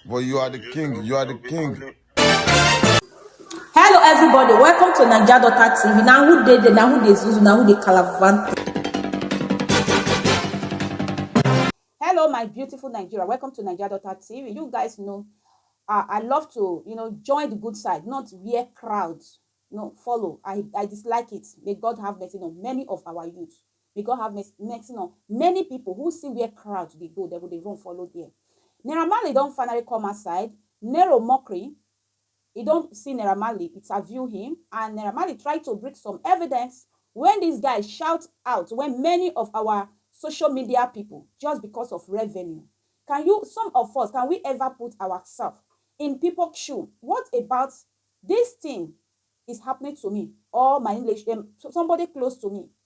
But you are the king. You are the king. Hello everybody, welcome to Naija Daughter TV. Na who dey there, na who dey zuzu, na who dey calavante. Hello my beautiful Nigeria, welcome to Naija Daughter TV. You guys know uh, I love to, you know, join the good side, not wear crowds. No, follow. I, I dislike it. May God have mercy on many of our youth. May God have mercy mercy on many people who see where crowd dey go, dem go dey run follow there. Naira Marley don finally come outside, Nero mockery, he don see Naira Marley interview him and Naira Marley try to bring some evidence when this guy shout out when many of our social media people just because of revenue. Can you some of us can we ever put ourself in people shoe what about this thing is happening to me or my English somebody close to me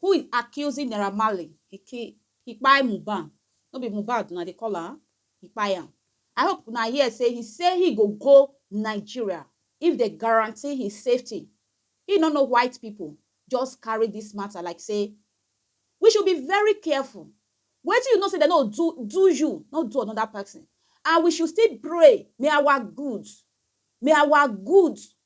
who is accusing Naira Marley he kill he kpai Mohbad no be Mohbad una dey call am he kpai am I hope una hear say he say he go go Nigeria if they guarantee his safety he no know white people just carry this matter like say we should be very careful wetin you know say they no do do you no do another person and we should still pray may our good may our good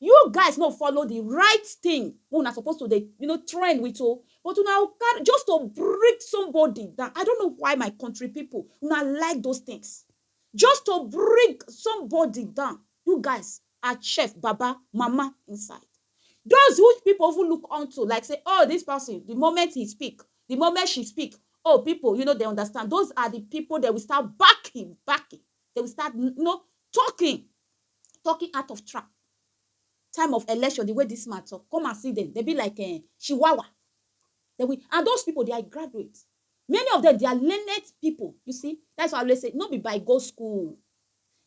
You guys no follow the right thing wey una suppose to dey you know, trend with o. But una go carry just to bring somebody down. I don't know why my country people, una like those things. Just to bring somebody down, you guys are chef, baba, mama inside. Those who people even look unto like say oh this person, the moment he speak, the moment she speak, oh people you know dey understand. Those are the people dey will start backing, backing. Dey will start you know talking Talking out of trap time of election the way this man talk come and see them they be like eh, chihuahua they will and those people they are graduates many of them they are learned people you see that's why I always say no be by go school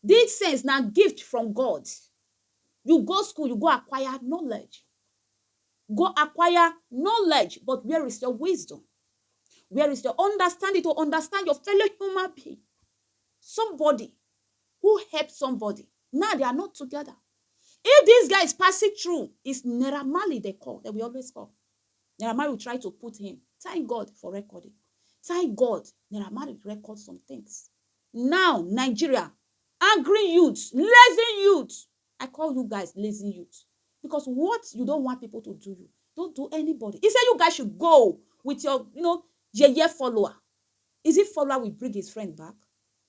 this sense now gift from God you go school you go acquire knowledge go acquire knowledge but where is your wisdom where is your understanding to understand your fellow human being somebody who help somebody now they are not together if this guy is passing through is Naira Marley they call they will always call Naira Marley will try to put him thank God for recording thank God Naira Marley record some things now Nigeria angry youths lazy youths I call you guys lazy youths because what you don't want people to do you don't do anybody he said you guys should go with your you know yeye follower is it follower will bring his friend back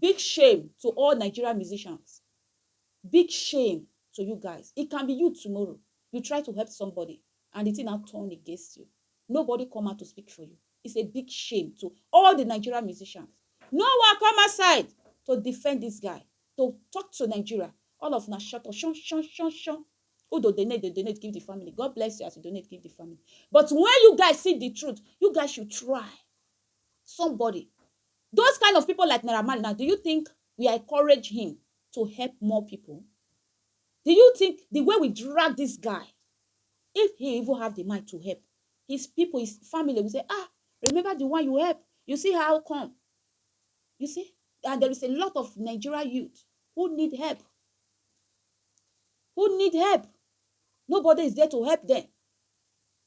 Big shame to all Nigerian musicians, big shame to you guys, it can be you tomorrow, you try to help somebody and the thing now turn against you, nobody come out to speak for you, it's a big shame to all the Nigerian musicians, no one come outside to defend this guy, to talk to Nigeria, all of una shut up, shun shun shun shun, who dey donate dey donate give the family, God bless you as you donate give the family, but when you guys see the truth, you guys should try, somebody Those kind of people like Naira Marley now do you think we are encourage him to help more people? Do you think the way we drag this guy if he even have the mind to help his people his family will say ah remember the one you help you see how come you see and there is a lot of Nigeria youth who need help who need help nobody is there to help them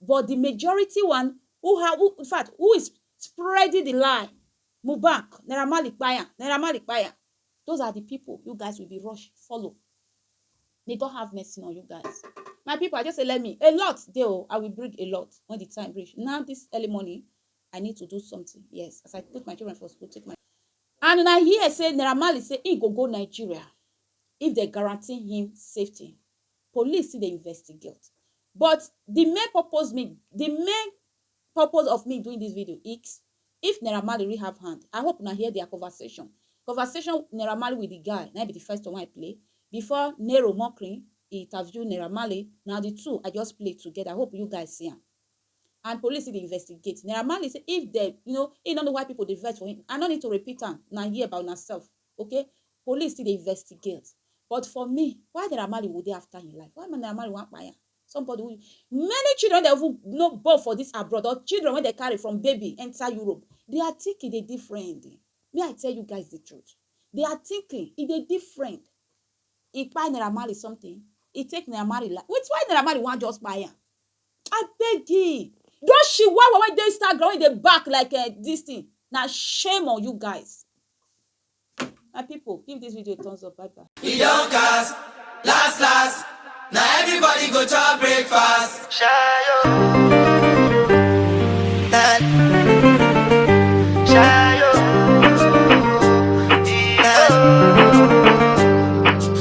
but di majority one who ha who in fact who is spreading di lie Mohbak Naira Marley kpai am Naira Marley kpai am those are di pipu you guys will be rush follow may God have mercy on you guys my pipu I just say let me a lot dey o I will bring a lot when di time reach now this early morning I need to do something yes as I put my children for school take my and una hear say Naira Marley say he go go Nigeria if dem guarantee him safety Police still dey investigate but di main purpose me di main purpose of me doing dis video is if Naira Marley really have hand I hope una hear dia conversation conversation Naira Marley with di guy na im be di first one wey I play before Nero Mokrin interview Naira Marley na di two I just play together I hope you guys see am and police still dey investigate Naira Marley say if dem you know he no know why people dey vex for him I no need to repeat am una hear by una self Okay, police still dey investigate but for me why Naira Marley go dey after im life? Why Naira Marley wan kpai am? Somebody wey many children wey dem even no born for dis abroad or children wey dem carry from baby enter Europe, dia thinking dey different. Make I tell you guys de truth, dia thinking e dey different. E kpai Naira Marley something? E take Naira Marley life? Wait, why Naira Marley wan just kpai am? Abeg ee those chihuahua wey dey Instagram wey dey bark like um this thing na shame on you guys. My people give this video thumbs up bye bye. E don cast, last last Na everybody go chop breakfast. Shayo Nani Shayo Nani